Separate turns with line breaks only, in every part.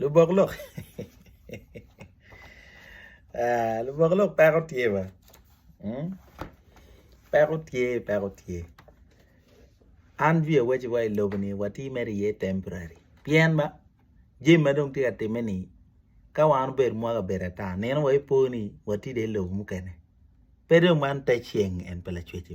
lubok lok lubok lok peko tye wa peko tye peko tye an dwi awaci wa i lobo ni watye mere iye temporary pien ma jami ma dong tye ka time ni ka wan obedo mwaka obedo ata nino wa ipo ni watye dong i lobo mukene pe dong man te ceng en pe lacweci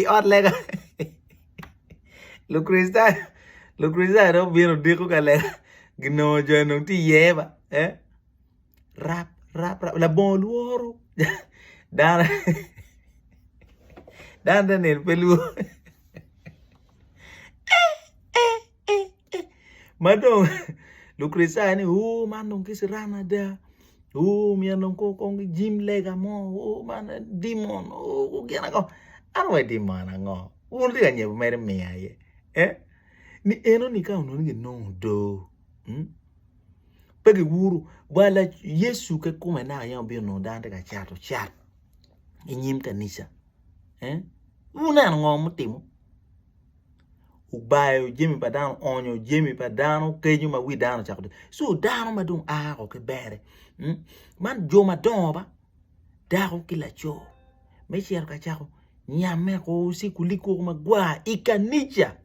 i ot lega Lukricitayo Lukricitayo dong obino odiko ka lega ginongo jo ni dong tye iye ba eh rap rap rap labongo lworo dano dano te nino pe lworo ma dong lukricitayo ni o man dong kiciran ada o myero dong kong gijim lega mo o man demon o gin ango an wa i demon ango wun ringo anyebo mere imiya aye ni enoni ka onongo ni ginongo odo hmm? pe giwuro wa Yecu kikome naka yam obino nongo dano tye ka cato cat i nyim kanica wuneno ngo mutimo obayo jami pa dano onyo jami pa dano kenyo ma wi dano ocako dok so dano ma dong a woko ki berre hmm? man jo madongo ba dako ki laco me cito ka cako nyamme ko cikuli ko magwar i kanica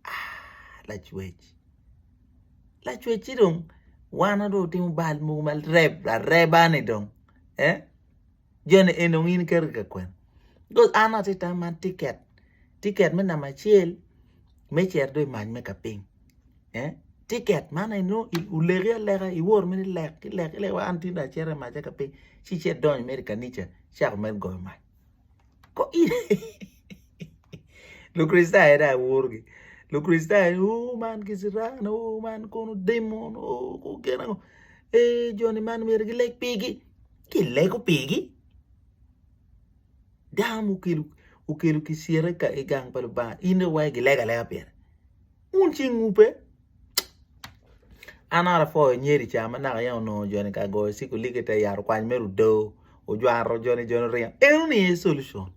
ah, lacwec lacwec ci dong wan dong otimo bal mogo mareb areba ni dong eh? Joni en dong in iketo ka kwena because an atye tamo man tiket tiket me namba acel me cito dong i mac me ka piny eh tiket man en dong oleki aleka iwor mere ilek ilek ilek wa an tin dong acito i macce ka piny ci icit idonyo mere i kanica icako mere goyo mac Lukricitayo dong aworogi Lukricitayo ni oo man giciran oo man kono demon oo gin ango ee joni man myero gileg pigi. Kilego pigi, dano ma okelo kicere i gang pa Lubanga in dong iwaco gilego alega pire. Wun cing ngubbe, an naka apwoyo Nyeri ca ma naka aye onongo joni ka goyo cik oligi i te yat okwany mere odo, ojwaro joni joni oringo. Eno ni aye solution.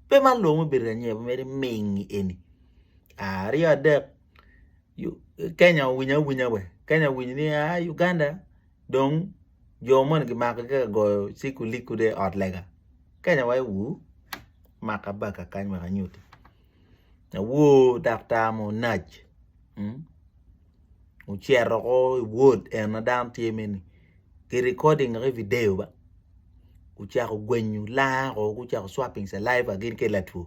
Pe mar lobo me bedo ka nyeba ma meri ming eni. Aryo adek, Kenya owinya awinya we, Kenya owinyo ni aa Uganda. dong jo moni kimako ki ka goyo ci kuliko dong i ot lega kany aye ur maka baka kany wek anyuti awor daktar mo nac ocito ko i wod en ma dano tye iye ni ki recording ki video ba ocako gwenyo laa ko gucako swapping saliva gin kit latwo.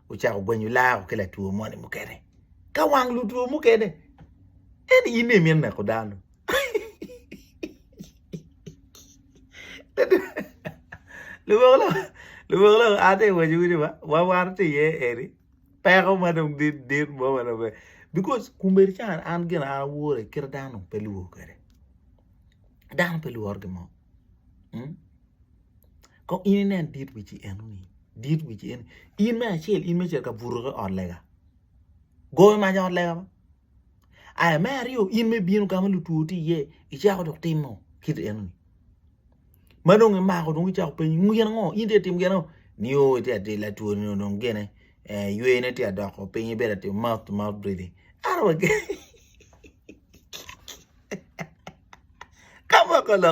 ocako gwenyo laro ki latwo moni mukene ka wang lutwo mukene ento in ni imito neko dano lubok lok lubok lok an dong iwaco wini ma wan wato ti iye eni peko ma dong dit dit mo ma dong ber bikos kumbedi can an gin awore kite dano pe luwo kede dano pe lworo gin mo kong in inen dit wici enoni dit wici enoni in me acel in me cito ka buto ki ot lega goyo mac i ot lega aya me aryo in me bino ka ma lutwo tye iye icako dok timo kit enoni ma dong imako dong icako penyo ngu gin ango in tye ka timo gin ango nio itye ka dilo two ni nio dong gene ywene tye ka doko piny ibedo ka timo mouth to mouth breathing out of again come on Kolo